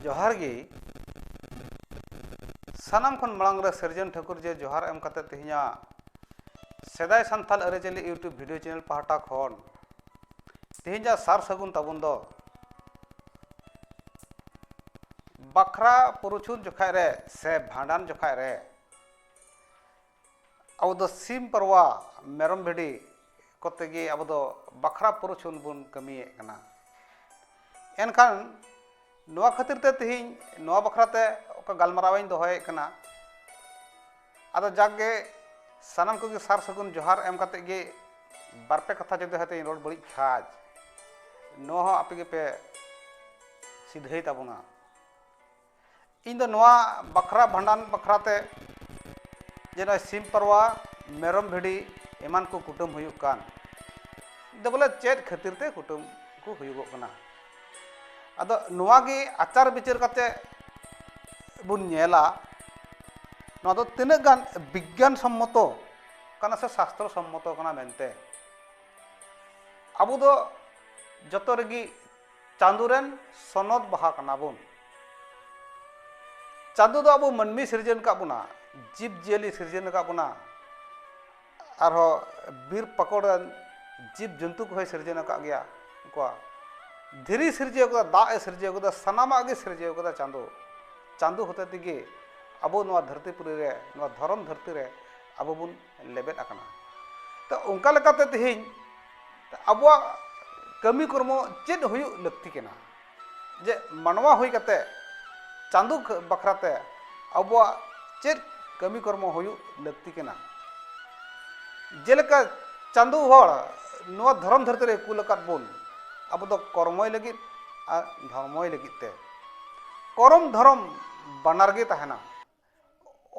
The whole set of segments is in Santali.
ᱡᱚᱦᱟᱨ ᱜᱮ ᱥᱟᱱᱟᱢ ᱠᱷᱚᱱ ᱢᱟᱲᱟᱝ ᱨᱮ ᱥᱤᱨᱡᱚᱱ ᱴᱷᱟᱹᱠᱩᱨ ᱡᱮ ᱡᱚᱦᱟᱨ ᱮᱢ ᱠᱟᱛᱮ ᱛᱮᱦᱮᱧᱟᱜ ᱥᱮᱫᱟᱭ ᱥᱟᱱᱛᱟᱲ ᱟᱹᱨᱤᱪᱟᱹᱞᱤ ᱤᱭᱩᱴᱩᱵᱽ ᱵᱷᱤᱰᱤᱭᱳ ᱪᱮᱱᱮᱞ ᱯᱟᱦᱴᱟ ᱠᱷᱚᱱ ᱛᱮᱦᱮᱧᱟᱜ ᱥᱟᱨ ᱥᱟᱹᱜᱩᱱ ᱛᱟᱵᱚᱱ ᱫᱚ ᱵᱟᱠᱷᱨᱟ ᱯᱩᱨᱩᱪᱷᱩᱱ ᱡᱚᱠᱷᱟᱡ ᱨᱮ ᱥᱮ ᱵᱷᱟᱸᱰᱟᱱ ᱡᱚᱠᱷᱟᱡ ᱨᱮ ᱟᱵᱚ ᱫᱚ ᱥᱤᱢ ᱯᱟᱨᱣᱟ ᱢᱮᱨᱚᱢ ᱵᱷᱤᱰᱤ ᱠᱚᱛᱮ ᱜᱮ ᱟᱵᱚ ᱫᱚ ᱵᱟᱠᱷᱨᱟ ᱯᱩᱨᱩᱪᱷᱚᱱ ᱵᱚᱱ ᱠᱟᱹᱢᱤᱭᱮᱫ ᱠᱟᱱᱟ ᱮᱱᱠᱷᱟᱱ ᱱᱚᱣᱟ ᱠᱷᱟᱹᱛᱤᱨ ᱛᱮ ᱛᱮᱦᱮᱧ ᱱᱚᱣᱟ ᱵᱟᱠᱷᱨᱟ ᱛᱮ ᱚᱠᱟ ᱜᱟᱞᱢᱟᱨᱟᱣ ᱤᱧ ᱫᱚᱦᱚᱭᱮᱫ ᱠᱟᱱᱟ ᱟᱫᱚ ᱡᱟᱠ ᱜᱮ ᱥᱟᱱᱟᱢ ᱠᱚᱜᱮ ᱥᱟᱨ ᱥᱟᱹᱜᱩᱱ ᱡᱚᱦᱟᱨ ᱮᱢ ᱠᱟᱛᱮ ᱜᱮ ᱵᱟᱨ ᱯᱮ ᱠᱟᱛᱷᱟ ᱡᱩᱫᱤ ᱦᱚᱭᱛᱳᱧ ᱨᱚᱲ ᱵᱟᱹᱲᱤᱡ ᱠᱷᱟᱡ ᱱᱚᱣᱟ ᱦᱚᱸ ᱟᱯᱮ ᱜᱮᱯᱮ ᱥᱤᱫᱷᱟᱹᱭ ᱛᱟᱵᱚᱱᱟ ᱤᱧ ᱫᱚ ᱱᱚᱣᱟ ᱵᱟᱠᱷᱨᱟ ᱵᱷᱟᱸᱰᱟᱱ ᱵᱟᱠᱷᱨᱟ ᱛᱮ ᱡᱮ ᱱᱚᱜᱼᱚᱭ ᱥᱤᱢ ᱯᱟᱨᱣᱟ ᱢᱮᱨᱚᱢ ᱵᱷᱤᱰᱤ ᱮᱢᱟᱱ ᱠᱚ ᱠᱩᱴᱟᱹᱢ ᱦᱩᱭᱩᱜ ᱠᱟᱱ ᱫᱚ ᱵᱚᱞᱮ ᱪᱮᱫ ᱠᱷᱟᱹᱛᱤᱨ ᱛᱮ ᱠᱩᱴᱟᱹᱢ ᱠᱚ ᱦᱩᱭᱩᱜᱚᱜ ᱠᱟᱱᱟ ᱟᱫᱚ ᱱᱚᱣᱟ ᱜᱮ ᱟᱪᱟᱨ ᱵᱤᱪᱟᱹᱨ ᱠᱟᱛᱮ ᱵᱚᱱ ᱧᱮᱞᱟ ᱱᱚᱣᱟ ᱫᱚ ᱛᱤᱱᱟᱹᱜ ᱜᱟᱱ ᱵᱤᱜᱽᱜᱟᱱ ᱥᱚᱢᱢᱚᱛᱚ ᱠᱟᱱᱟ ᱥᱮ ᱥᱟᱥᱛᱨᱚ ᱥᱚᱢᱢᱚᱛᱚ ᱠᱟᱱᱟ ᱢᱮᱱᱛᱮ ᱟᱵᱚ ᱫᱚ ᱡᱚᱛᱚ ᱨᱮᱜᱮ ᱪᱟᱸᱫᱚ ᱨᱮᱱ ᱥᱚᱱᱚᱛ ᱵᱟᱦᱟ ᱠᱟᱱᱟ ᱵᱚᱱ ᱪᱟᱸᱫᱚ ᱫᱚ ᱟᱵᱚ ᱢᱟᱹᱱᱢᱤ ᱥᱤᱨᱡᱚᱱ ᱟᱠᱟᱫ ᱵᱚᱱᱟ ᱡᱤᱵᱽ ᱡᱤᱭᱟᱹᱞᱤ ᱥᱤᱨᱡᱚᱱ ᱟᱠᱟᱫ ᱵᱚᱱᱟ ᱟᱨᱦᱚᱸ ᱵᱤᱨ ᱯᱟᱠᱚᱲ ᱨᱮᱱ ᱡᱤᱵᱽ ᱡᱚᱱᱛᱩ ᱠᱚᱦᱚᱸᱭ ᱥᱤᱨᱡᱚᱱ ᱟᱠᱟᱫ ᱜᱮᱭᱟ ᱠᱚᱣᱟ ᱫᱷᱤᱨᱤ ᱥᱤᱨᱡᱟᱹᱣ ᱠᱟᱫᱟ ᱫᱟᱜ ᱮ ᱥᱤᱨᱡᱟᱹᱣ ᱠᱟᱫᱟ ᱥᱟᱱᱟᱢᱟᱜ ᱜᱮ ᱥᱤᱨᱡᱟᱹᱣ ᱠᱟᱫᱟ ᱪᱟᱸᱫᱚ ᱪᱟᱸᱫᱚ ᱦᱚᱛᱮ ᱛᱮᱜᱮ ᱟᱵᱚ ᱱᱚᱣᱟ ᱫᱷᱟᱹᱨᱛᱤ ᱯᱩᱨᱤ ᱨᱮ ᱱᱚᱣᱟ ᱫᱷᱚᱨᱚᱢ ᱫᱷᱟᱹᱨᱛᱤ ᱨᱮ ᱟᱵᱚ ᱵᱚᱱ ᱞᱮᱵᱮᱫ ᱟᱠᱟᱱᱟ ᱛᱚ ᱚᱱᱠᱟ ᱞᱮᱠᱟᱛᱮ ᱛᱮᱦᱮᱧ ᱟᱵᱚᱣᱟᱜ ᱠᱟᱹᱢᱤ ᱠᱚᱨᱢᱚ ᱪᱮᱫ ᱦᱩᱭᱩᱜ ᱞᱟᱹᱠᱛᱤ ᱠᱟᱱᱟ ᱡᱮ ᱢᱟᱱᱣᱟ ᱦᱩᱭ ᱠᱟᱛᱮ ᱪᱟᱸᱫᱳ ᱵᱟᱠᱷᱨᱟᱛᱮ ᱟᱵᱚᱣᱟᱜ ᱪᱮᱫ ᱠᱟᱹᱢᱤ ᱠᱚᱨᱢᱚ ᱦᱩᱭᱩᱜ ᱞᱟᱹᱠᱛᱤ ᱠᱟᱱᱟ ᱡᱮᱞᱮᱠᱟ ᱪᱟᱸᱫᱳ ᱦᱚᱲ ᱱᱚᱣᱟ ᱫᱷᱚᱨᱚᱢ ᱫᱷᱟᱹᱨᱛᱤ ᱨᱮ ᱠᱩᱞ ᱟᱠᱟᱫ ᱵᱚᱱ ᱟᱵᱚ ᱫᱚ ᱠᱚᱨᱢᱚᱭ ᱞᱟᱹᱜᱤᱫ ᱟᱨ ᱫᱷᱚᱨᱢᱚᱭ ᱞᱟᱹᱜᱤᱫ ᱛᱮ ᱠᱚᱨᱚᱢ ᱫᱷᱚᱨᱚᱢ ᱵᱟᱱᱟᱨ ᱜᱮ ᱛᱟᱦᱮᱱᱟ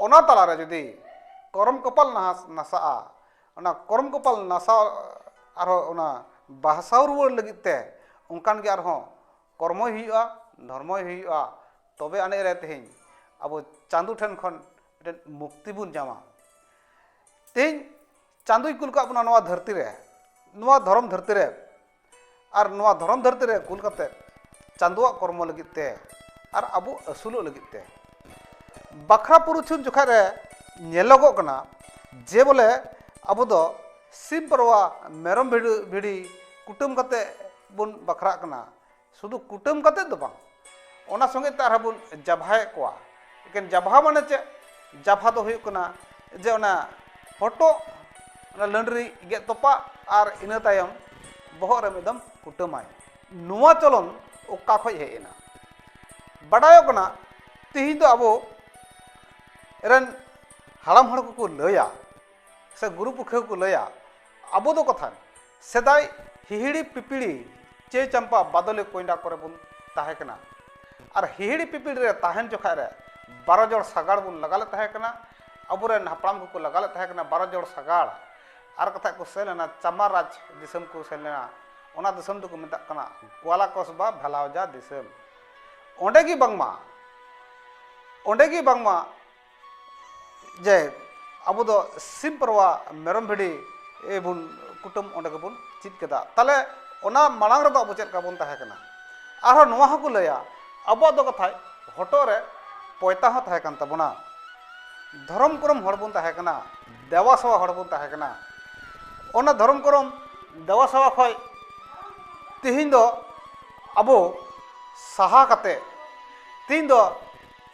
ᱚᱱᱟ ᱛᱟᱞᱟᱨᱮ ᱡᱩᱫᱤ ᱠᱚᱨᱚᱢ ᱠᱚᱯᱟᱞ ᱱᱟᱥᱟᱜᱼᱟ ᱚᱱᱟ ᱠᱚᱨᱚᱢ ᱠᱚᱯᱟᱞ ᱱᱟᱥᱟᱣ ᱟᱨᱦᱚᱸ ᱚᱱᱟ ᱵᱟᱦᱥᱟᱣ ᱨᱩᱣᱟᱹᱲ ᱞᱟᱹᱜᱤᱫ ᱛᱮ ᱚᱱᱠᱟᱱ ᱜᱮ ᱟᱨᱦᱚᱸ ᱠᱚᱨᱢᱚᱭ ᱦᱩᱭᱩᱜᱼᱟ ᱫᱷᱚᱨᱢᱚᱭ ᱦᱩᱭᱩᱜᱼᱟ ᱛᱚᱵᱮ ᱟᱹᱱᱤᱡ ᱨᱮ ᱛᱮᱦᱮᱧ ᱟᱵᱚ ᱪᱟᱸᱫᱚ ᱴᱷᱮᱱ ᱠᱷᱚᱱ ᱢᱤᱫᱴᱮᱱ ᱢᱩᱠᱛᱤ ᱵᱚᱱ ᱧᱟᱢᱟ ᱛᱮᱦᱮᱧ ᱪᱟᱸᱫᱚᱭ ᱠᱩᱞ ᱠᱟᱜ ᱵᱚᱱᱟ ᱱᱚᱣᱟ ᱫᱷᱟᱹᱨᱛᱤ ᱨᱮ ᱱᱚᱣᱟ ᱫᱷᱚᱨᱚᱢ ᱫᱷᱟᱹᱨᱛᱤ ᱨᱮ ᱟᱨ ᱱᱚᱣᱟ ᱫᱷᱚᱨᱚᱢ ᱫᱷᱟᱹᱨᱛᱤ ᱨᱮ ᱠᱩᱞ ᱠᱟᱛᱮ ᱪᱟᱸᱫᱚᱣᱟᱜ ᱠᱚᱨᱢᱚ ᱞᱟᱹᱜᱤᱫ ᱛᱮ ᱟᱨ ᱟᱵᱚ ᱟᱹᱥᱩᱞᱚᱜ ᱞᱟᱹᱜᱤᱫ ᱛᱮ ᱵᱟᱠᱷᱨᱟ ᱯᱩᱨᱩᱪᱷᱩᱱ ᱡᱚᱠᱷᱟᱡ ᱨᱮ ᱧᱮᱞᱚᱜᱚᱜ ᱠᱟᱱᱟ ᱡᱮ ᱵᱚᱞᱮ ᱟᱵᱚ ᱫᱚ ᱥᱤᱢ ᱯᱟᱨᱣᱟ ᱢᱮᱨᱚᱢ ᱵᱷᱤᱰᱤ ᱠᱩᱴᱟᱹᱢ ᱠᱟᱛᱮ ᱵᱚᱱ ᱵᱟᱠᱷᱨᱟᱜ ᱠᱟᱱᱟ ᱥᱩᱫᱷᱩ ᱠᱩᱴᱟᱹᱢ ᱠᱟᱛᱮ ᱫᱚ ᱵᱟᱝ ᱚᱱᱟ ᱥᱚᱸᱜᱮ ᱛᱮ ᱟᱨᱦᱚᱸ ᱵᱚᱱ ᱡᱟᱵᱷᱟᱭᱮᱫ ᱠᱚᱣᱟ ᱮᱠᱮᱱ ᱡᱟᱵᱷᱟ ᱢᱟᱱᱮ ᱪᱮᱫ ᱡᱟᱵᱷᱟ ᱫᱚ ᱦᱩᱭᱩᱜ ᱠᱟᱱᱟ ᱡᱮ ᱚᱱᱟ ᱦᱚᱴᱚᱜ ᱚᱱᱟ ᱞᱟᱹᱰᱨᱤ ᱜᱮᱫ ᱛᱚᱯᱟᱜ ᱟᱨ ᱤᱱᱟᱹ ᱛᱟᱭᱚᱢ ᱵᱚᱦᱚᱜ ᱨᱮ ᱢᱤᱫ ᱫᱚᱢ ᱠᱩᱴᱟᱹᱢᱟᱭ ᱱᱚᱣᱟ ᱪᱚᱞᱚᱱ ᱚᱠᱟ ᱠᱷᱚᱱ ᱦᱮᱡ ᱮᱱᱟ ᱵᱟᱰᱟᱭᱚᱜ ᱠᱟᱱᱟ ᱛᱮᱦᱮᱧ ᱫᱚ ᱟᱵᱚ ᱨᱮᱱ ᱦᱟᱲᱟᱢ ᱦᱚᱲ ᱠᱚᱠᱚ ᱞᱟᱹᱭᱟ ᱥᱮ ᱜᱩᱨᱩ ᱯᱩᱠᱷᱟᱹ ᱠᱚ ᱞᱟᱹᱭᱟ ᱟᱵᱚ ᱫᱚ ᱠᱚᱛᱷᱟ ᱥᱮᱫᱟᱭ ᱦᱤᱦᱤᱲᱤ ᱯᱤᱯᱤᱲᱤ ᱪᱮ ᱪᱟᱢᱯᱟ ᱵᱟᱫᱚᱞᱤ ᱠᱚᱭᱰᱟ ᱠᱚᱨᱮ ᱵᱚᱱ ᱛᱟᱦᱮᱸ ᱠᱟᱱᱟ ᱟᱨ ᱦᱤᱦᱤᱲᱤ ᱯᱤᱯᱤᱲᱤ ᱨᱮ ᱛᱟᱦᱮᱱ ᱡᱚᱠᱷᱟᱡ ᱨᱮ ᱵᱟᱨᱚ ᱡᱚᱲ ᱥᱟᱜᱟᱲ ᱵᱚᱱ ᱞᱟᱜᱟ ᱞᱮᱫ ᱛᱟᱦᱮᱸ ᱠᱟᱱᱟ ᱟᱵᱚᱨᱮᱱ ᱦᱟᱯᱲᱟᱢ ᱠᱚᱠᱚ ᱞᱟᱜᱟ ᱞᱮᱫ ᱛᱟᱦᱮᱸ ᱠᱟᱱᱟ ᱵᱟᱨᱚ ᱡᱚᱲ ᱥᱟᱜᱟᱲ ᱟᱨ ᱠᱟᱛᱷᱟ ᱠᱚ ᱥᱮᱱ ᱞᱮᱱᱟ ᱪᱟᱢᱟ ᱨᱟᱡᱽ ᱫᱤᱥᱚᱢ ᱠᱚ ᱥᱮᱱ ᱞᱮᱱᱟ ᱚᱱᱟ ᱫᱤᱥᱚᱢ ᱫᱚᱠᱚ ᱢᱮᱛᱟᱜ ᱠᱟᱱᱟ ᱜᱳᱣᱟᱞᱟ ᱠᱚᱥᱵᱟ ᱵᱷᱮᱞᱟᱣᱡᱟ ᱫᱤᱥᱚᱢ ᱚᱸᱰᱮ ᱜᱮ ᱵᱟᱝᱢᱟ ᱚᱸᱰᱮ ᱜᱮ ᱵᱟᱝᱢᱟ ᱡᱮ ᱟᱵᱚ ᱫᱚ ᱥᱤᱢ ᱯᱟᱨᱣᱟ ᱢᱮᱨᱚᱢ ᱵᱷᱤᱰᱤ ᱵᱚᱱ ᱠᱩᱴᱟᱹᱢ ᱚᱸᱰᱮ ᱜᱮᱵᱚᱱ ᱪᱮᱫ ᱠᱮᱫᱟ ᱛᱟᱦᱚᱞᱮ ᱚᱱᱟ ᱢᱟᱲᱟᱝ ᱨᱮᱫᱚ ᱟᱵᱚ ᱪᱮᱫ ᱞᱮᱠᱟ ᱵᱚᱱ ᱛᱟᱦᱮᱸ ᱠᱟᱱᱟ ᱟᱨᱦᱚᱸ ᱱᱚᱣᱟ ᱦᱚᱸᱠᱚ ᱞᱟᱹᱭᱟ ᱟᱵᱚᱣᱟᱜ ᱫᱚ ᱠᱟᱛᱷᱟᱡ ᱦᱚᱴᱚᱜ ᱨᱮ ᱯᱚᱭᱛᱟ ᱦᱚᱸ ᱛᱟᱦᱮᱸ ᱠᱟᱱ ᱛᱟᱵᱚᱱᱟ ᱫᱷᱚᱨᱚᱢ ᱠᱚᱨᱚᱢ ᱦᱚᱲ ᱵᱚᱱ ᱛᱟᱦᱮᱸ ᱠᱟᱱᱟ ᱫᱮᱵᱟ ᱥᱮᱵᱟ ᱦᱚᱲ ᱵᱚᱱ ᱛᱟᱦᱮᱸ ᱠᱟᱱᱟ ᱚᱱᱟ ᱫᱷᱚᱨᱚᱢ ᱠᱚᱨᱚᱢ ᱫᱮᱵᱟ ᱥᱮᱵᱟ ᱠᱷᱚᱡ ᱛᱮᱦᱮᱧ ᱫᱚ ᱟᱵᱚ ᱥᱟᱦᱟ ᱠᱟᱛᱮ ᱛᱮᱦᱮᱧ ᱫᱚ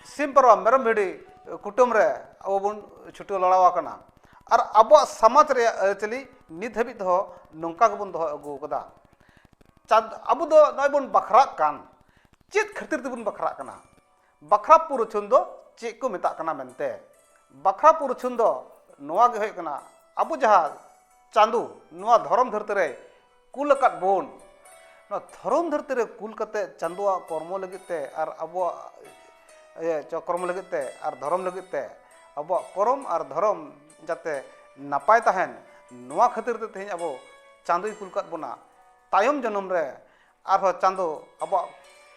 ᱥᱤᱢ ᱯᱟᱨᱣᱟ ᱢᱮᱨᱚᱢ ᱵᱷᱤᱰᱤ ᱠᱩᱴᱟᱹᱢ ᱨᱮ ᱟᱵᱚ ᱵᱚᱱ ᱪᱷᱩᱴᱟᱹᱣ ᱞᱟᱲᱟᱣ ᱟᱠᱟᱱᱟ ᱟᱨ ᱟᱵᱚᱣᱟᱜ ᱥᱚᱢᱟᱡᱽ ᱨᱮᱭᱟᱜ ᱟᱹᱨᱤᱪᱟᱹᱞᱤ ᱱᱤᱛ ᱦᱟᱹᱵᱤᱡ ᱛᱮᱦᱚᱸ ᱱᱚᱝᱠᱟ ᱜᱮᱵᱚᱱ ᱫᱚᱦᱚ ᱟᱹᱜᱩ ᱟᱠᱟᱫᱟ ᱪᱟᱸᱫ ᱟᱵᱚ ᱫᱚ ᱱᱚᱜᱼᱚᱭ ᱵᱚᱱ ᱵᱟᱠᱷᱨᱟᱜ ᱠᱟᱱ ᱪᱮᱫ ᱠᱷᱟᱹᱛᱤᱨ ᱛᱮᱵᱚᱱ ᱵᱟᱠᱷᱨᱟᱜ ᱠᱟᱱᱟ ᱵᱟᱠᱷᱨᱟ ᱯᱩᱨᱩᱪᱷᱩᱱ ᱫᱚ ᱪᱮᱫ ᱠᱚ ᱢᱮᱛᱟᱜ ᱠᱟᱱᱟ ᱢᱮᱱᱛᱮ ᱵᱟᱠᱷᱨᱟ ᱯᱩᱨᱩᱪᱷᱩᱱ ᱫᱚ ᱱᱚᱣᱟ ᱜᱮ ᱦᱩᱭᱩᱜ ᱠᱟᱱᱟ ᱟᱵᱚ ᱡᱟᱦᱟᱸ ᱪᱟᱸᱫᱚ ᱱᱚᱣᱟ ᱫᱷᱚᱨᱚᱢ ᱫᱷᱟᱹᱨᱛᱤ ᱨᱮ ᱠᱩᱞ ᱟᱠᱟᱫ ᱵᱚᱱ ᱱᱚᱣᱟ ᱫᱷᱚᱨᱚᱢ ᱫᱷᱟᱹᱨᱛᱤ ᱨᱮ ᱠᱩᱞ ᱠᱟᱛᱮ ᱪᱟᱸᱫᱳᱣᱟᱜ ᱠᱚᱨᱢᱚ ᱞᱟᱹᱜᱤᱫ ᱛᱮ ᱟᱨ ᱟᱵᱚᱣᱟᱜ ᱤᱭᱟᱹ ᱪᱚᱠᱨᱚᱢ ᱞᱟᱹᱜᱤᱫ ᱛᱮ ᱟᱨ ᱫᱷᱚᱨᱚᱢ ᱞᱟᱹᱜᱤᱫ ᱛᱮ ᱟᱵᱚᱣᱟᱜ ᱠᱚᱨᱚᱢ ᱟᱨ ᱫᱷᱚᱨᱚᱢ ᱡᱟᱛᱮ ᱱᱟᱯᱟᱭ ᱛᱟᱦᱮᱱ ᱱᱚᱣᱟ ᱠᱷᱟᱹᱛᱤᱨ ᱛᱮ ᱛᱮᱦᱮᱧ ᱟᱵᱚ ᱪᱟᱸᱫᱳᱭ ᱠᱩᱞ ᱟᱠᱟᱫ ᱵᱚᱱᱟ ᱛᱟᱭᱚᱢ ᱡᱚᱱᱚᱢ ᱨᱮ ᱟᱨᱦᱚᱸ ᱪᱟᱸᱫᱳ ᱟᱵᱚᱣᱟᱜ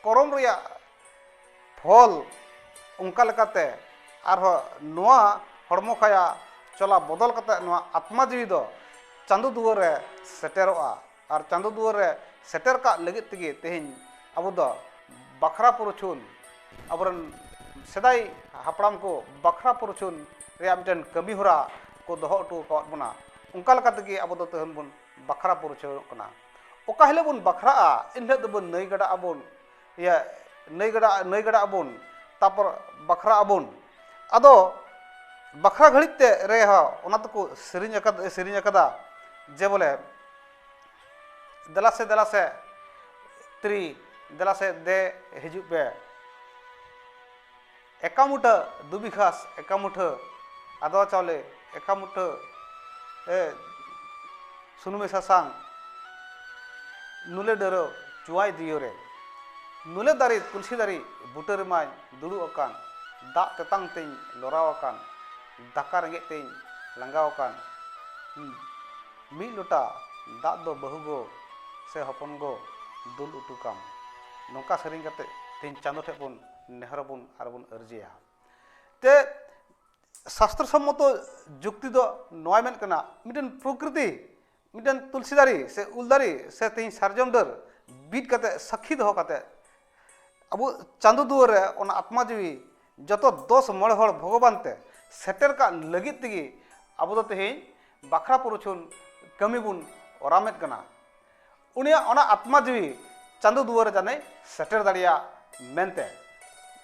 ᱠᱚᱨᱚᱢ ᱨᱮᱭᱟᱜ ᱯᱷᱚᱞ ᱚᱱᱠᱟ ᱞᱮᱠᱟᱛᱮ ᱟᱨᱦᱚᱸ ᱱᱚᱣᱟ ᱦᱚᱲᱢᱚ ᱠᱟᱭᱟ ᱪᱚᱞᱟ ᱵᱚᱫᱚᱞ ᱠᱟᱛᱮ ᱱᱚᱣᱟ ᱟᱛᱢᱟ ᱡᱤᱣᱤ ᱫᱚ ᱪᱟᱸᱫᱚ ᱫᱩᱣᱟᱹᱨ ᱨᱮ ᱥᱮᱴᱮᱨᱚᱜᱼᱟ ᱟᱨ ᱪᱟᱸᱫᱚ ᱫᱩᱣᱟᱹᱨ ᱨᱮ ᱥᱮᱴᱮᱨ ᱠᱟᱜ ᱞᱟᱹᱜᱤᱫ ᱛᱮᱜᱮ ᱛᱮᱦᱮᱧ ᱟᱵᱚ ᱫᱚ ᱵᱟᱠᱷᱨᱟ ᱯᱩᱨᱩᱪᱷᱩᱱ ᱟᱵᱚᱨᱮᱱ ᱥᱮᱫᱟᱭ ᱦᱟᱯᱲᱟᱢ ᱠᱚ ᱵᱟᱠᱷᱨᱟ ᱯᱩᱨᱩᱪᱷᱩᱱ ᱨᱮᱭᱟᱜ ᱢᱤᱫᱴᱮᱱ ᱠᱟᱹᱢᱤ ᱦᱚᱨᱟ ᱠᱚ ᱫᱚᱦᱚ ᱦᱚᱴᱚ ᱟᱠᱟᱫ ᱵᱚᱱᱟ ᱚᱱᱠᱟ ᱞᱮᱠᱟ ᱛᱮᱜᱮ ᱟᱵᱚ ᱫᱚ ᱛᱮᱦᱮᱧ ᱵᱚᱱ ᱵᱟᱠᱷᱨᱟ ᱯᱩᱨᱩᱪᱷᱩᱱᱚᱜ ᱠᱟᱱᱟ ᱚᱠᱟ ᱦᱤᱞᱳᱜ ᱵᱚᱱ ᱵᱟᱠᱷᱨᱟᱜᱼᱟ ᱮᱱ ᱦᱤᱞᱳᱜ ᱫᱚᱵᱚᱱ ᱱᱟᱹᱭ ᱜᱟᱰᱟ ᱟᱵᱚᱱ ᱤᱭᱟᱹ ᱱᱟᱹᱭ ᱜᱟᱰᱟ ᱱᱟᱹᱭ ᱜᱟᱰᱟ ᱟᱵᱚᱱ ᱛᱟᱨᱯᱚᱨ ᱵᱟᱠᱷᱨᱟ ᱟᱵᱚᱱ ᱟᱫᱚ ᱵᱟᱠᱷᱨᱟ ᱜᱷᱟᱹᱲᱤᱡ ᱛᱮ ᱨᱮᱦᱚᱸ ᱚᱱᱟ ᱫᱚᱠᱚ ᱥᱮᱨᱮᱧ ᱟᱠᱟᱫᱟ ᱥᱮᱨᱮᱧ ᱟᱠᱟᱫᱟ ᱡᱮ ᱵᱚᱞᱮ ᱫᱮᱞᱟ ᱥᱮ ᱫᱮᱞᱟ ᱥᱮ ᱛᱨᱤ ᱫᱮᱞᱟ ᱥᱮ ᱫᱮ ᱦᱤᱡᱩᱜ ᱯᱮ ᱮᱠᱟᱢᱩᱴᱟᱹ ᱫᱩᱵᱤ ᱜᱷᱟᱥ ᱮᱠᱟᱢᱩᱴᱷᱟᱹ ᱟᱫᱣᱟ ᱪᱟᱣᱞᱮ ᱮᱠᱟᱢᱩᱴᱷᱟᱹ ᱥᱩᱱᱩᱢᱮ ᱥᱟᱥᱟᱝ ᱱᱩᱞᱮ ᱰᱟᱹᱨᱟᱹᱣ ᱪᱩᱣᱟᱭ ᱫᱤᱭᱚᱨᱮ ᱱᱩᱞᱮ ᱫᱟᱨᱮ ᱛᱩᱞᱥᱤ ᱫᱟᱨᱮ ᱵᱩᱴᱟᱹ ᱨᱮᱢᱟᱭ ᱫᱩᱲᱩᱵ ᱟᱠᱟᱱ ᱫᱟᱜ ᱛᱮᱛᱟᱝ ᱛᱮᱧ ᱞᱚᱨᱟᱣ ᱟᱠᱟᱱ ᱫᱟᱠᱟ ᱨᱮᱸᱜᱮᱡ ᱛᱮᱧ ᱞᱟᱸᱜᱟᱣ ᱟᱠᱟᱱ ᱢᱤᱫ ᱞᱚᱴᱟ ᱫᱟᱜ ᱫᱚ ᱵᱟᱹᱦᱩ ᱜᱚ ᱥᱮ ᱦᱚᱯᱚᱱ ᱜᱚ ᱫᱩᱞ ᱩᱴᱩᱠᱟᱢ ᱱᱚᱝᱠᱟ ᱥᱮᱨᱮᱧ ᱠᱟᱛᱮ ᱛᱮᱧ ᱪᱟᱸᱫᱚ ᱴᱷᱮᱡ ᱵᱚᱱ ᱱᱮᱦᱚᱨ ᱟᱵᱚᱱ ᱟᱨ ᱵᱚᱱ ᱟᱹᱨᱡᱤᱭᱟ ᱛᱮ ᱥᱟᱥᱛᱨᱚ ᱥᱚᱢᱢᱚᱛᱚ ᱡᱩᱠᱛᱤ ᱫᱚ ᱱᱚᱣᱟ ᱢᱮᱱ ᱠᱟᱱᱟ ᱢᱤᱫᱴᱮᱱ ᱯᱨᱚᱠᱨᱤᱛᱤ ᱢᱤᱫᱴᱮᱱ ᱛᱩᱞᱥᱤ ᱫᱟᱨᱮ ᱥᱮ ᱩᱞ ᱫᱟᱨᱮ ᱥᱮ ᱛᱮᱦᱮᱧ ᱥᱟᱨᱡᱚᱢ ᱰᱟᱹᱨ ᱵᱤᱫ ᱠᱟᱛᱮ ᱥᱟᱹᱠᱷᱤ ᱫᱚᱦᱚ ᱠᱟᱛᱮ ᱟᱵᱚ ᱪᱟᱸᱫᱚ ᱫᱩᱣᱟᱹᱨ ᱨᱮ ᱚᱱᱟ ᱟᱛᱢᱟ ᱡᱤᱣᱤ ᱡᱚᱛᱚ ᱫᱚᱥ ᱢᱚᱬᱮ ᱦᱚᱲ ᱵᱷᱚᱜᱚᱵᱟᱱ ᱛᱮ ᱥᱮᱴᱮᱨ ᱠᱟᱜ ᱞᱟᱹᱜᱤᱫ ᱛᱮᱜᱮ ᱟᱵᱚ ᱫᱚ ᱛᱮᱦᱮᱧ ᱵᱟᱠᱷᱨᱟ ᱯᱨᱚᱪᱷᱚᱱ ᱠᱟᱹᱢᱤ ᱵᱚᱱ ᱚᱨᱟᱢᱮᱫ ᱠᱟᱱᱟ ᱩᱱᱤᱭᱟᱜ ᱚᱱᱟ ᱟᱛᱢᱟ ᱡᱤᱣᱤ ᱪᱟᱸᱫᱚ ᱫᱩᱣᱟᱹᱨ ᱡᱟᱱᱮ ᱥᱮᱴᱮᱨ ᱫᱟᱲᱮᱭᱟᱜ ᱢᱮᱱᱛᱮ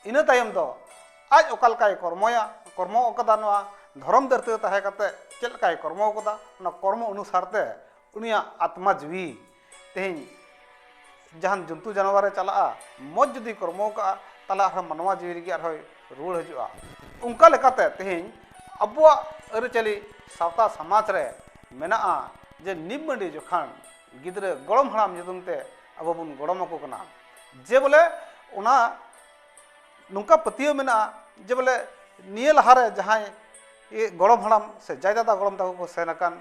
ᱤᱱᱟᱹ ᱛᱟᱭᱚᱢ ᱫᱚ ᱟᱡ ᱚᱠᱟ ᱞᱮᱠᱟᱭ ᱠᱚᱨᱢᱚᱭᱟ ᱠᱚᱨᱢᱚ ᱟᱠᱟᱫᱟ ᱱᱚᱣᱟ ᱫᱷᱚᱨᱚᱢ ᱫᱷᱟᱹᱨᱛᱤ ᱨᱮ ᱛᱟᱦᱮᱸ ᱠᱟᱛᱮ ᱪᱮᱫ ᱞᱮᱠᱟᱭ ᱠᱚᱨᱢᱚ ᱟᱠᱟᱫᱟ ᱚᱱᱟ ᱠᱚᱨᱢᱚ ᱚᱱᱩᱥᱟᱨ ᱛᱮ ᱩᱱᱤᱭᱟᱜ ᱟᱛᱢᱟ ᱡᱤᱣᱤ ᱛᱮᱦᱮᱧ ᱡᱟᱦᱟᱱ ᱡᱚᱱᱛᱩ ᱡᱟᱱᱣᱟᱨᱮ ᱪᱟᱞᱟᱜᱼᱟ ᱢᱚᱡᱽ ᱡᱩᱫᱤ ᱠᱚᱨᱢᱚ ᱟᱠᱟᱜᱼᱟ ᱛᱟᱦᱚᱞᱮ ᱟᱨᱦᱚᱸ ᱢᱟᱱᱣᱟ ᱡᱤᱣᱤ ᱨᱮᱜᱮ ᱟᱨᱦᱚᱸᱭ ᱨᱩᱣᱟᱹᱲ ᱦᱤᱡᱩᱜᱼᱟ ᱚᱱᱠᱟ ᱞᱮᱠᱟᱛᱮ ᱛᱮᱦᱮᱧ ᱟᱵᱚᱣᱟᱜ ᱟᱹᱨᱤᱪᱟᱹᱞᱤ ᱥᱟᱶᱛᱟ ᱥᱚᱢᱟᱡᱽ ᱨᱮ ᱢᱮᱱᱟᱜᱼᱟ ᱡᱮ ᱱᱤᱢ ᱢᱟᱹᱰᱤ ᱡᱚᱠᱷᱟᱱ ᱜᱤᱫᱽᱨᱟᱹ ᱜᱚᱲᱚᱢ ᱦᱟᱲᱟᱢ ᱧᱩᱛᱩᱢ ᱛᱮ ᱟᱵᱚ ᱵᱚᱱ ᱜᱚᱲᱚᱢ ᱟᱠᱚ ᱠᱟᱱᱟ ᱡᱮ ᱵᱚᱞᱮ ᱚᱱᱟ ᱱᱚᱝᱠᱟ ᱯᱟᱹᱛᱭᱟᱹᱣ ᱢᱮᱱᱟᱜᱼᱟ ᱡᱮ ᱵᱚᱞᱮ ᱱᱤᱭᱟᱹ ᱞᱟᱦᱟᱨᱮ ᱡᱟᱦᱟᱸᱭ ᱜᱚᱲᱚᱢ ᱦᱟᱲᱟᱢ ᱥᱮ ᱡᱟᱭ ᱫᱟᱫᱟ ᱜᱚᱲᱚᱢ ᱛᱟᱠᱚ ᱠᱚ ᱥᱮᱱ ᱟᱠᱟᱱ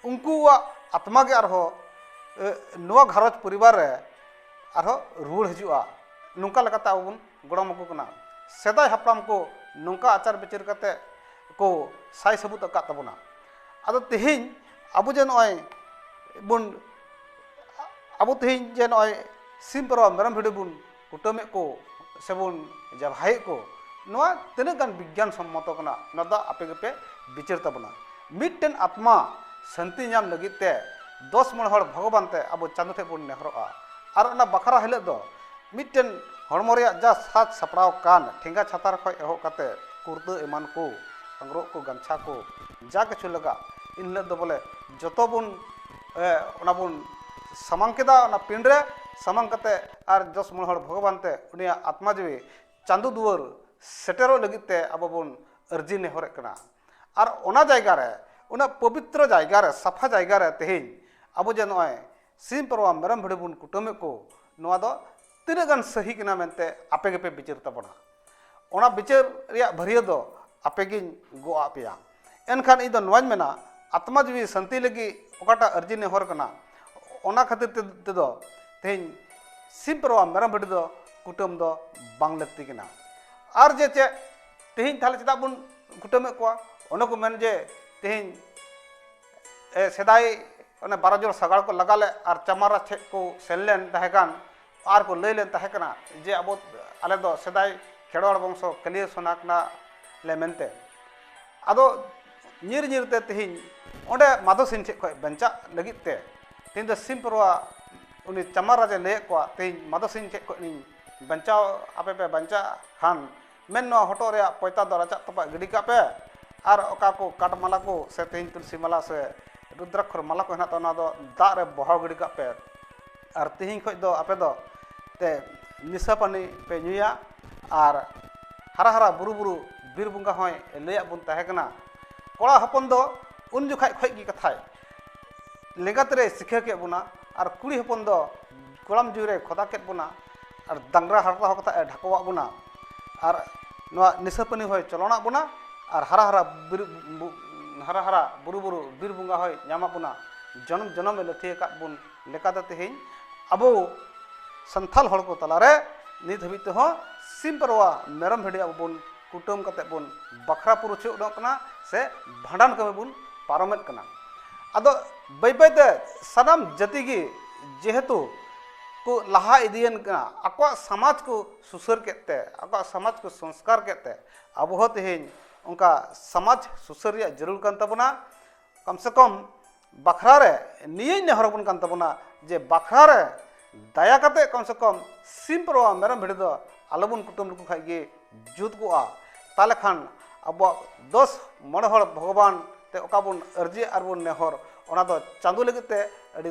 ᱩᱱᱠᱩᱣᱟᱜ ᱟᱛᱢᱟ ᱜᱮ ᱟᱨᱦᱚᱸ ᱱᱚᱣᱟ ᱜᱷᱟᱨᱚᱸᱡᱽ ᱯᱚᱨᱤᱵᱟᱨ ᱨᱮ ᱟᱨᱦᱚᱸ ᱨᱩᱣᱟᱹᱲ ᱦᱤᱡᱩᱜᱼᱟ ᱱᱚᱝᱠᱟ ᱞᱮᱠᱟᱛᱮ ᱟᱵᱚ ᱵᱚᱱ ᱜᱚᱲᱚᱢ ᱟᱠᱚ ᱠᱟᱱᱟ ᱥᱮᱫᱟᱭ ᱦᱟᱯᱲᱟᱢ ᱠᱚ ᱱᱚᱝᱠᱟ ᱟᱪᱟᱨ ᱵᱤᱪᱟᱹᱨ ᱠᱟᱛᱮᱫ ᱠᱚ ᱥᱟᱭ ᱥᱟᱹᱵᱩᱫ ᱟᱠᱟᱫ ᱛᱟᱵᱚᱱᱟ ᱟᱫᱚ ᱛᱮᱦᱮᱧ ᱟᱵᱚ ᱡᱮ ᱱᱚᱜᱼᱚᱭ ᱵᱚᱱ ᱟᱵᱚ ᱛᱮᱦᱮᱧ ᱡᱮ ᱱᱚᱜᱼᱚᱭ ᱥᱤᱢ ᱯᱟᱨᱣᱟ ᱢᱮᱨᱚᱢ ᱵᱷᱤᱰᱤ ᱵᱚᱱ ᱠᱩᱴᱟᱹᱢᱮᱫ ᱠᱚ ᱥᱮᱵᱚᱱ ᱡᱟᱵᱷᱟᱭᱮᱫ ᱠᱚ ᱱᱚᱣᱟ ᱛᱤᱱᱟᱹᱜ ᱜᱟᱱ ᱵᱤᱜᱽᱜᱟᱱ ᱥᱚᱢᱢᱚᱛᱚ ᱠᱟᱱᱟ ᱱᱚᱣᱟ ᱫᱚ ᱟᱯᱮ ᱜᱮᱯᱮ ᱵᱤᱪᱟᱹᱨ ᱛᱟᱵᱚᱱᱟ ᱢᱤᱫᱴᱮᱱ ᱟᱛᱢᱟ ᱥᱟᱱᱛᱤ ᱧᱟᱢ ᱞᱟᱹᱜᱤᱫ ᱛᱮ ᱫᱚᱥ ᱢᱚᱬᱮ ᱦᱚᱲ ᱵᱷᱚᱜᱚᱵᱟᱱ ᱛᱮ ᱟᱵᱚ ᱪᱟᱸᱫᱚ ᱴᱷᱮᱱ ᱵᱚᱱ ᱱᱮᱦᱚᱨᱚᱜᱼᱟ ᱟᱨ ᱚᱱᱟ ᱵᱟᱠᱷᱨᱟ ᱦᱤᱞᱳᱜ ᱫᱚ ᱢᱤᱫᱴᱮᱱ ᱦᱚᱲᱢᱚ ᱨᱮᱭᱟᱜ ᱡᱟ ᱥᱟᱡᱽ ᱥᱟᱯᱲᱟᱣ ᱠᱟᱱ ᱴᱷᱮᱸᱜᱟ ᱪᱷᱟᱛᱟᱨ ᱠᱷᱚᱱ ᱮᱦᱚᱵ ᱠᱟᱛᱮ ᱠᱩᱨᱛᱟᱹ ᱮᱢᱟᱱ ᱠᱚ ᱟᱝᱨᱚᱵ ᱠᱚ ᱜᱟᱢᱪᱷᱟ ᱠᱚ ᱡᱟ ᱠᱤᱪᱷᱩ ᱞᱟᱜᱟᱜ ᱮᱱ ᱦᱤᱞᱳᱜ ᱫᱚ ᱵᱚᱞᱮ ᱡᱚᱛᱚ ᱵᱚᱱ ᱚᱱᱟ ᱵᱚᱱ ᱥᱟᱢᱟᱝ ᱠᱮᱫᱟ ᱚᱱᱟ ᱯᱤᱸᱰ ᱨᱮ ᱥᱟᱢᱟᱝ ᱠᱟᱛᱮ ᱟᱨ ᱫᱚᱥ ᱢᱚᱬᱮ ᱦᱚᱲ ᱵᱷᱚᱜᱚᱵᱟᱱ ᱛᱮ ᱩᱱᱤᱭᱟᱜ ᱟᱛᱢᱟ ᱡᱤᱣᱤ ᱪᱟᱸᱫᱚ ᱫᱩᱣᱟᱹᱨ ᱥᱮᱴᱮᱨᱚᱜ ᱞᱟᱹᱜᱤᱫ ᱛᱮ ᱟᱵᱚ ᱵᱚᱱ ᱟᱹᱨᱡᱤ ᱱᱮᱦᱚᱨᱮᱜ ᱠᱟᱱᱟ ᱟᱨ ᱚᱱᱟ ᱡᱟᱭᱜᱟ ᱨᱮ ᱩᱱᱟᱹᱜ ᱯᱚᱵᱤᱛᱨᱚ ᱡᱟᱭᱜᱟ ᱨᱮ ᱥᱟᱯᱷᱟ ᱡᱟᱭᱜᱟ ᱨᱮ ᱛᱮᱦᱮᱧ ᱟᱵᱚ ᱡᱮ ᱱᱚᱜᱼᱚᱭ ᱥᱤᱢ ᱯᱟᱨᱣᱟ ᱢᱮᱨᱚᱢ ᱵᱷᱤᱰᱤ ᱵᱚᱱ ᱠᱩᱴᱟᱹᱢᱮᱫ ᱠᱚ ᱱᱚᱣᱟ ᱫᱚ ᱛᱤᱱᱟᱹᱜ ᱜᱟᱱ ᱥᱟᱹᱦᱤ ᱠᱟᱱᱟ ᱢᱮᱱᱛᱮ ᱟᱯᱮ ᱜᱮᱯᱮ ᱵᱤᱪᱟᱹᱨ ᱛᱟᱵᱚᱱᱟ ᱚᱱᱟ ᱵᱤᱪᱟᱹᱨ ᱨᱮᱭᱟᱜ ᱵᱷᱟᱹᱨᱭᱟᱹ ᱫᱚ ᱟᱯᱮ ᱜᱤᱧ ᱜᱚᱜ ᱟᱫ ᱯᱮᱭᱟ ᱮᱱᱠᱷᱟᱱ ᱤᱧ ᱫᱚ ᱱᱚᱣᱟᱧ ᱢᱮᱱᱟ ᱟᱛᱢᱟ ᱡᱤᱣᱤ ᱥᱟᱱᱛᱤ ᱞᱟᱹᱜᱤᱫ ᱚᱠᱟᱴᱟᱜ ᱟᱹᱨᱡᱤ ᱱᱮᱦᱚᱨ ᱠᱟᱱᱟ ᱚᱱᱟ ᱠᱷᱟᱹᱛᱤᱨ ᱛᱮᱫᱚ ᱛᱮᱦᱮᱧ ᱥᱤᱢ ᱯᱟᱨᱣᱟ ᱢᱮᱨᱚᱢ ᱵᱷᱤᱰᱤ ᱫᱚ ᱠᱩᱴᱟᱹᱢ ᱫᱚ ᱵᱟᱝ ᱞᱟᱹᱠᱛᱤ ᱠᱟᱱᱟ ᱟᱨ ᱡᱮ ᱪᱮᱫ ᱛᱮᱦᱮᱧ ᱛᱟᱦᱞᱮ ᱪᱮᱫᱟᱜ ᱵᱚᱱ ᱠᱩᱴᱟᱹᱢᱮᱫ ᱠᱚᱣᱟ ᱚᱱᱮ ᱠᱚ ᱢᱮᱱ ᱡᱮ ᱛᱮᱦᱮᱧ ᱥᱮᱫᱟᱭ ᱚᱱᱮ ᱵᱟᱨᱚ ᱡᱚᱱ ᱥᱟᱜᱟᱲ ᱠᱚ ᱞᱟᱜᱟ ᱞᱮᱫ ᱟᱨ ᱪᱟᱢᱟᱨᱟ ᱴᱷᱮᱡ ᱠᱚ ᱥᱮᱱ ᱞᱮᱱ ᱛᱟᱦᱮᱸ ᱠᱟᱱ ᱟᱨ ᱠᱚ ᱞᱟᱹᱭ ᱞᱮᱱ ᱛᱟᱦᱮᱸ ᱠᱟᱱᱟ ᱡᱮ ᱟᱵᱚ ᱟᱞᱮ ᱫᱚ ᱥᱮᱫᱟᱭ ᱠᱷᱮᱨᱣᱟᱲ ᱵᱚᱝᱥᱚ ᱠᱟᱹᱞᱤᱭᱟᱹ ᱥᱚᱱᱟ ᱠᱟᱱᱟ ᱞᱮ ᱢᱮᱱᱛᱮ ᱟᱫᱚ ᱧᱤᱨ ᱧᱤᱨ ᱛᱮ ᱛᱮᱦᱮᱧ ᱚᱸᱰᱮ ᱢᱟᱫᱷᱚ ᱥᱤᱝ ᱴᱷᱮᱡ ᱠᱷᱚᱡ ᱵᱟᱧᱪᱟᱜ ᱞᱟᱹᱜᱤᱫ ᱛᱮ ᱛᱮᱦᱮᱧ ᱫᱚ ᱥᱤᱢ ᱯᱟᱨᱣᱟ ᱩᱱᱤ ᱪᱟᱢᱟᱨ ᱨᱟᱡᱟᱭ ᱞᱟᱹᱭᱟᱫ ᱠᱚᱣᱟ ᱛᱮᱦᱮᱧ ᱢᱟᱫᱷᱚ ᱥᱤᱝ ᱴᱷᱮᱡ ᱠᱷᱚᱡ ᱞᱤᱧ ᱵᱟᱧᱪᱟᱣ ᱟᱯᱮ ᱯᱮ ᱵᱟᱧᱪᱟᱜ ᱠᱷᱟᱱ ᱢᱮᱱ ᱱᱚᱣᱟ ᱦᱚᱴᱚᱜ ᱨᱮᱭᱟᱜ ᱯᱚᱭᱛᱟ ᱫᱚ ᱨᱟᱪᱟᱜ ᱛᱚᱯᱟᱜ ᱜᱤᱰᱤ ᱠᱟᱜ ᱯᱮ ᱟᱨ ᱚᱠᱟ ᱠᱚ ᱠᱟᱴ ᱢᱟᱞᱟ ᱠᱚ ᱥᱮ ᱛᱮᱦᱮᱧ ᱛᱩᱞᱥᱤ ᱢᱟᱞᱟ ᱥᱮ ᱨᱩᱫᱽᱨᱟᱠᱷᱚᱨ ᱢᱟᱞᱟ ᱠᱚ ᱦᱮᱱᱟᱜ ᱛᱟᱵᱚᱱᱟ ᱚᱱᱟ ᱫᱚ ᱫᱟᱜ ᱨᱮ ᱵᱚᱦᱟᱣ ᱜᱤᱰᱤ ᱠᱟᱜ ᱯᱮ ᱟᱨ ᱛᱮᱦᱮᱧ ᱠᱷᱚᱱ ᱫᱚ ᱟᱯᱮ ᱫᱚ ᱛᱮ ᱱᱤᱥᱟᱹ ᱯᱟᱹᱱᱤ ᱯᱮ ᱧᱩᱭᱟ ᱟᱨ ᱦᱟᱨᱟ ᱦᱟᱨᱟ ᱵᱩᱨᱩ ᱵᱩᱨᱩ ᱵᱤᱨ ᱵᱚᱸᱜᱟ ᱦᱚᱸᱭ ᱞᱟᱹᱭᱟᱫ ᱵᱚᱱ ᱛᱟᱦᱮᱸ ᱠᱟᱱᱟ ᱠᱚᱲᱟ ᱦᱚᱯᱚᱱ ᱫᱚ ᱩᱱ ᱡᱚᱠᱷᱟᱡ ᱠᱷᱚᱡ ᱜᱮ ᱠᱟᱛᱷᱟᱭ ᱞᱮᱸᱜᱟ ᱛᱤᱨᱮᱭ ᱥᱤᱠᱷᱟᱹ ᱠᱮᱫ ᱵᱚᱱᱟ ᱟᱨ ᱠᱩᱲᱤ ᱦᱚᱯᱚᱱ ᱫᱚ ᱜᱚᱲᱟᱢ ᱡᱩᱨᱤᱭ ᱠᱷᱚᱫᱟ ᱠᱮᱫ ᱵᱚᱱᱟ ᱟᱨ ᱰᱟᱝᱨᱟ ᱦᱟᱨᱛᱟ ᱦᱚᱸ ᱠᱟᱛᱮᱫ ᱮ ᱰᱷᱟᱠᱚᱣᱟᱜ ᱵᱚᱱᱟ ᱟᱨ ᱱᱚᱣᱟ ᱱᱤᱥᱟᱹ ᱯᱟᱹᱱᱤ ᱦᱚᱸᱭ ᱪᱚᱞᱚᱱᱟᱜ ᱵᱚᱱᱟ ᱟᱨ ᱦᱟᱨᱟ ᱦᱟᱨᱟ ᱵᱤᱨ ᱦᱟᱨᱟ ᱦᱟᱨᱟ ᱵᱩᱨᱩ ᱵᱩᱨᱩ ᱵᱤᱨ ᱵᱚᱸᱜᱟ ᱦᱚᱸᱭ ᱧᱟᱢᱟᱜ ᱵᱚᱱᱟ ᱡᱚᱱᱚᱢ ᱡᱚᱱᱚᱢ ᱮ ᱞᱟᱹᱛᱷᱟᱹᱭ ᱟᱠᱟᱫ ᱵᱚᱱ ᱞᱮᱠᱟᱛᱮ ᱛᱮᱦᱮᱧ ᱟᱵᱚ ᱥᱟᱱᱛᱟᱲ ᱦᱚᱲ ᱠᱚ ᱛᱟᱞᱟᱨᱮ ᱱᱤᱛ ᱦᱟᱹᱵᱤᱡ ᱛᱮᱦᱚᱸ ᱥᱤᱢ ᱯᱟᱨᱣᱟ ᱢᱮᱨᱚᱢ ᱵᱷᱤᱰᱤ ᱟᱵᱚ ᱵᱚᱱ ᱠᱩᱴᱟᱹᱢ ᱠᱟᱛᱮᱫ ᱵᱚᱱ ᱵᱟᱠᱷᱨᱟ ᱯᱩᱨᱩᱪᱷᱟᱹ ᱩᱰᱩᱠ ᱠᱟᱱᱟ ᱥᱮ ᱵᱷᱟᱸᱰᱟᱱ ᱠᱟᱹᱢᱤ ᱵᱚᱱ ᱯᱟᱨᱚᱢᱮᱫ ᱠᱟᱱᱟ ᱟᱫᱚ ᱵᱟᱹᱭ ᱵᱟᱹᱭᱛᱮ ᱥᱟᱱᱟᱢ ᱡᱟᱹᱛᱤ ᱜᱮ ᱡᱮᱦᱮᱛᱩ ᱠᱚ ᱞᱟᱦᱟ ᱤᱫᱤᱭᱮᱱ ᱠᱟᱱᱟ ᱟᱠᱚᱣᱟᱜ ᱥᱟᱢᱟᱡᱽ ᱠᱚ ᱥᱩᱥᱟᱹᱨ ᱠᱮᱫ ᱛᱮ ᱟᱠᱚᱣᱟᱜ ᱥᱟᱢᱟᱡᱽ ᱠᱚ ᱥᱚᱝᱥᱠᱟᱨ ᱠᱮᱫ ᱛᱮ ᱟᱵᱚ ᱦᱚᱸ ᱛᱮᱦᱮᱧ ᱚᱱᱠᱟ ᱥᱟᱢᱟᱡᱽ ᱥᱩᱥᱟᱹᱨ ᱨᱮᱭᱟᱜ ᱡᱟᱹᱨᱩᱲ ᱠᱟᱱ ᱛᱟᱵᱚᱱᱟ ᱠᱚᱢ ᱥᱮ ᱠᱚᱢ ᱵᱟᱠᱷᱨᱟ ᱨᱮ ᱱᱤᱭᱟᱹᱧ ᱱᱮᱦᱚᱨ ᱟᱵᱚᱱ ᱠᱟᱱ ᱛᱟᱵᱚᱱᱟ ᱡᱮ ᱵᱟᱠᱷᱨᱟ ᱨᱮ ᱫᱟᱭᱟ ᱠᱟᱛᱮ ᱠᱚᱢ ᱥᱮ ᱠᱚᱢ ᱥᱤᱢ ᱯᱟᱨᱣᱟ ᱢᱮᱨᱚᱢ ᱵᱷᱤᱰᱤ ᱫᱚ ᱟᱞᱚ ᱵᱚᱱ ᱠᱩᱴᱟᱹᱢ ᱞᱮᱠᱚ ᱠᱷᱟᱡ ᱜᱮ ᱡᱩᱛ ᱠᱚᱜᱼᱟ ᱛᱟᱦᱚᱞᱮ ᱠᱷᱟᱱ ᱟᱵᱚᱣᱟᱜ ᱫᱚᱥ ᱢᱚᱬᱮ ᱦᱚᱲ ᱵᱷᱚᱜᱚᱵᱟᱱ ᱛᱮ ᱚᱠᱟ ᱵᱚᱱ ᱟᱹᱨᱡᱤ ᱟᱨ ᱵᱚᱱ ᱱᱮᱦᱚᱨ ᱚᱱᱟ ᱫᱚ ᱪᱟᱸᱫᱚ ᱞᱟᱹᱜᱤᱫ ᱛᱮ ᱟᱹᱰᱤ